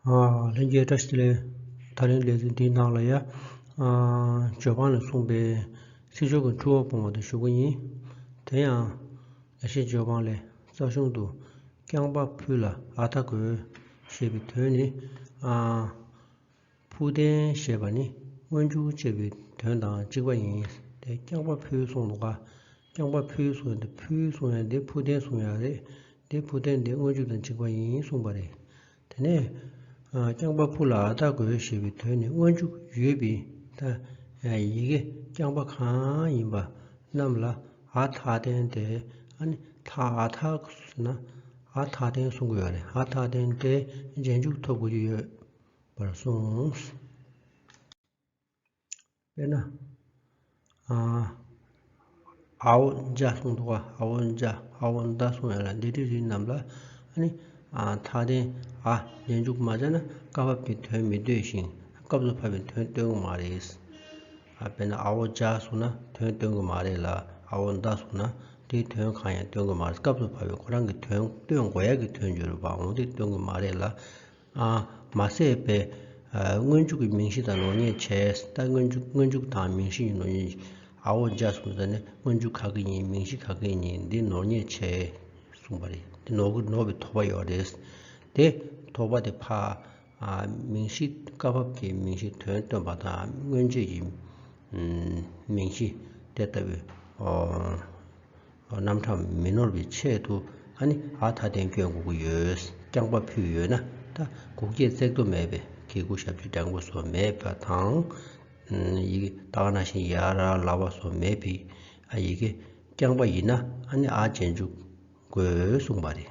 ལྷན་རྒྱས་བཀྲ་ཤིས་ལས་ད་རིང་ལས་ཚིག་འདིའི་ནང་ལ་ཡ། ཇོ་ཁང་ལས་གསུངས་པའི་སྲིད་ཕྱོགས་ཀྱི་འཁྲུལ་བ་སྤོང་བ་དེ་ཞུ་གི་ཡིན། དེ་ཡང། ཡ་ཤེས་ཇོ་ཁང་ལས་རྩ་གཞུང་དུ། རྐྱང་པ་ཕུ་ལ་ཨ་ཐ་གོ། ཞེས་པའི་དོན་ནི། ཕུ་ལྡན་ཞེས་པ་ནི་སྔོན་འཇུག་ཅེས་པའི་དོན་དང་གཅིག་པ་ཡིན། དེ་རྐྱང་པ་ཕུའི་གསུང་དུ་བཀའ། རྐྱང་པ་ཕུའི་གསུང་ཡང་འདི་ཕུའི་གསུང་ཡང་འདི་ཕུ་ཐན་གསུང་ཡང་རེད། འདི་ཕུ་ཐན་འདི་སྔོན་ཆུབ་དང་གཅིག་པ་ཡིན་གསུངས་པ་རེད། དེ་ནས། རྐྱང་པ་ཕུ་ལ་ཨ་ཐ་གོ་ཞེས་པའི་དོན་ནི་སྔོན་ཆུབ་ཡོད་པའི་ཐ། ཡི་གེ་རྐྱང་པ་གང་ཡིན་པ་རྣམས་ལ་ཨ་ཐ་ཐན་ཏེ་ཨ་ནི་ཐ་ཨ་ཐ་ཟེར་ན་ཨ་ཐ་ཐན་གསུང་དགོས་པ་རེད་ཨ་ཐ་ཐན་ཏེ་རྗེས་འཇུག་ཐོབ་དགོས་ཀྱི་ཡོད་པར་གསུངས། དཔེར་ན། ཨའོ་འཇའ་གསུང་དུ་བ་ཨའོ་འཇའ་ཨའོ་མདའ་གསུང་ཡང་ལ་འདི་གྲི་རིགས་རྣམས་ལ་ནི། མཐའ་རྟེན་ཨ་རྗེས་འཇུག་མ་བྱས་ན་བཀའ་བབས་ཀྱི་དོན་མི་འདོད་བཞིན་སྐབས་སུ་བབས་པའི་དོན་སྟོན་གྱི་མ་རེད། དཔེར་ན་ཨའོ་འཇའ་གསུང་ན་དོན་སྟོན་གྱི་མ་རེད་ལ་ཨའོ་མདའ་གསུང་ན་དེའི་དོན་གང་ཡང་སྟོན་གྱི་མ་རེད་སྐབས་སུ་བབས་པའི་ཁོ་རང་གི་དོན་སྟོན་དགོས་ཡག་གི་དོན་བརྗོད་རུང་བ་འོང་སྟེ་སྟོན་གྱི་མ་རེད་ལ། མ་ཟད་པའི་སྔོན་འཇུག་གི་མིང་གཞི་དང་ནོར་ཉེས་བྱས་ལྟ་སྔོན་འཇུག་སྔོན་འཇུག་དང་མིང་གཞི་ཡིན་ནོ་ཨའོ་བརྒྱ་གསུམ་ཟེར་ནས་སྔོན་འཇུག་ག་གི་ཡིན་མིང་གཞི་ག་གི་ཡིན་འདི་ནོར་ཉེས་བྱས་གསུངས་པ་རེད་འདི་ནོར་གི་ནོར་བའི་དོགས་པ་ཡོད་རེད་དེ་དོགས་པ་དེ་ཕ་མིང་གཞི་སྐབས་བབ་ཀྱི་མིང་གཞི་དོན་སྟོན་པ་དང་སྔོན་རྗེས་ཀྱི་མིང་གཞི་དེ་ལྟ་བུའི་རྣམ་གྲངས་མི་ནོར་བའི་ཆེད་དུ་ཨ་ནི་ཨ་ཐ་བསྟན་བཅོས་འགུགས་ཡོད་རྐྱང་པ་ཕུལ་ཡོད་ན་ད་འགུགས་སྐྱེད་བརྩེགས་དོ་མེད་པའི་གེ་གུ་ཞབས་ཀྱི་སྦྲང་བུ་སོགས་མེད་པ་དང། ཡི་གེ་སྟག་ན་ཤིང་ཡར་ར་ལ་བ་སོགས་མེད་པའི་ཡི་གེ་རྐྱང་པ་ཡིན་ན་ཨ་ནི་ཨ་རྗེས་འཇུག་དགོས་གསུངས་པ་རེད།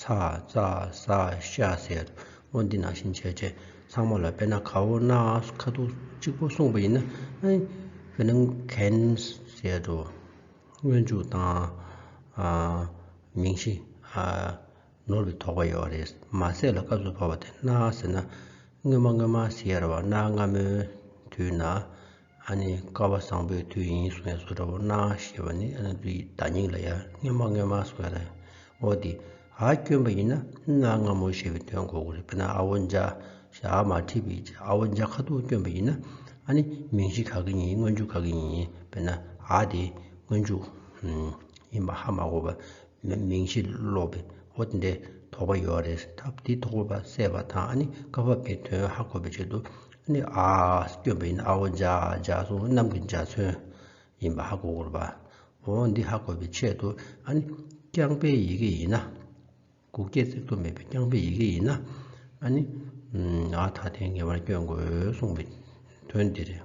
ཚ་བཙའ་ཟ་ཤ་ཟེར། འོ་འདི་ནང་བཞིན་བྱས་རྗེས་ཚང་མ་ལ་དཔེར་ན་གའུ་སྣ་ཁ་དོག་གཅིག་པོ་གསུངས་པ་ཡིན་ན་དཔེར་ན་གན་ཟེར་རོ། སྔོན་འཇུག་དང། མིང་གཞི། ནོར་བའི་དོགས་པ་ཡོད་པ་རེད། མ་ཟད་ལ་སྐབས་སུ་བབ་པ་དེ་སྣ་ཟེར་ན། སྔོན་མ་སྔོན་མ་ཟེར་བ་སྣ་སྔ་མོའི་དུས་ན་ཨ་ནི་ཀ་བ་བཟང་པོའི་དུས་ཡིན་གསུང་བའི་བཟོ་འདྲ་བོ་སྣང་ཨ་ཞེས་པ་ནི་ཨ་ནི་དུས་ཀྱི་བརྡ་རྙིང་ལ་ཡར་སྔོན་མ་སྔོན་མ་གསུང་བ་དང་འོ་དེ་ཨ་སྐྱོན་པ་ཡིན་ན་ཨ་སྔ་མོ་ཞེས་པའི་དོན་གོ་དགོས་དཔེར་ན་ཨ་བོ་འཇགས་ཞེས་ཨ་མ་ཁྲིད་པའི་འཇགས་ཨ་བོ་འཇགས་ཁ་ཐུག་སྐྱོན་པ་ཡིན་ན་ཨ་ནི་མིང་གཞི་ག་གི་ཡིན་སྔོན་འཇུག་ག་གི་ཡིན་དཔེར་ན་ཨ་དེ་སྔོན་འཇུག་ཡིན་པ་ཧ་མ་གོ་བར་མིང་གཞི་ཀློག་པའི་འོ་དེ་འདྲའི་དོགས་པ་ཡོད་རེད་ད་དེ་དོགས་པ་བསལ་བ་དང་ཨ་ནི་ཀ་བ་བའི་དོན་ཧ་གོ་བའི་ཆེད་དུ་ནི་ཨ། སྐྱོན་པའི་ཨ་བོ་འཇག་འཇག་སོང་གནམ་གྱི་འཇའ་ཚོན་ཡིན་པ་ཧ་གོ་དགོས་པ། འོ་འདི་ཧ་གོ་བའི་ཆེད་དུ་ཨ་ནི་རྐྱང་པའི་ཡི་གེ་ཡིན་ན། གུག་སྐྱེད་བརྩེགས་གཏོར་མེད་པའི་རྐྱང་པའི་ཡི་གེ་ཡིན་ན་ཨ་ནི་ཨ་ད་ཐེངས་ངེས་པར་སྐྱོན་དགོས་གསུངས་པའི་དོན་འདི་རེད།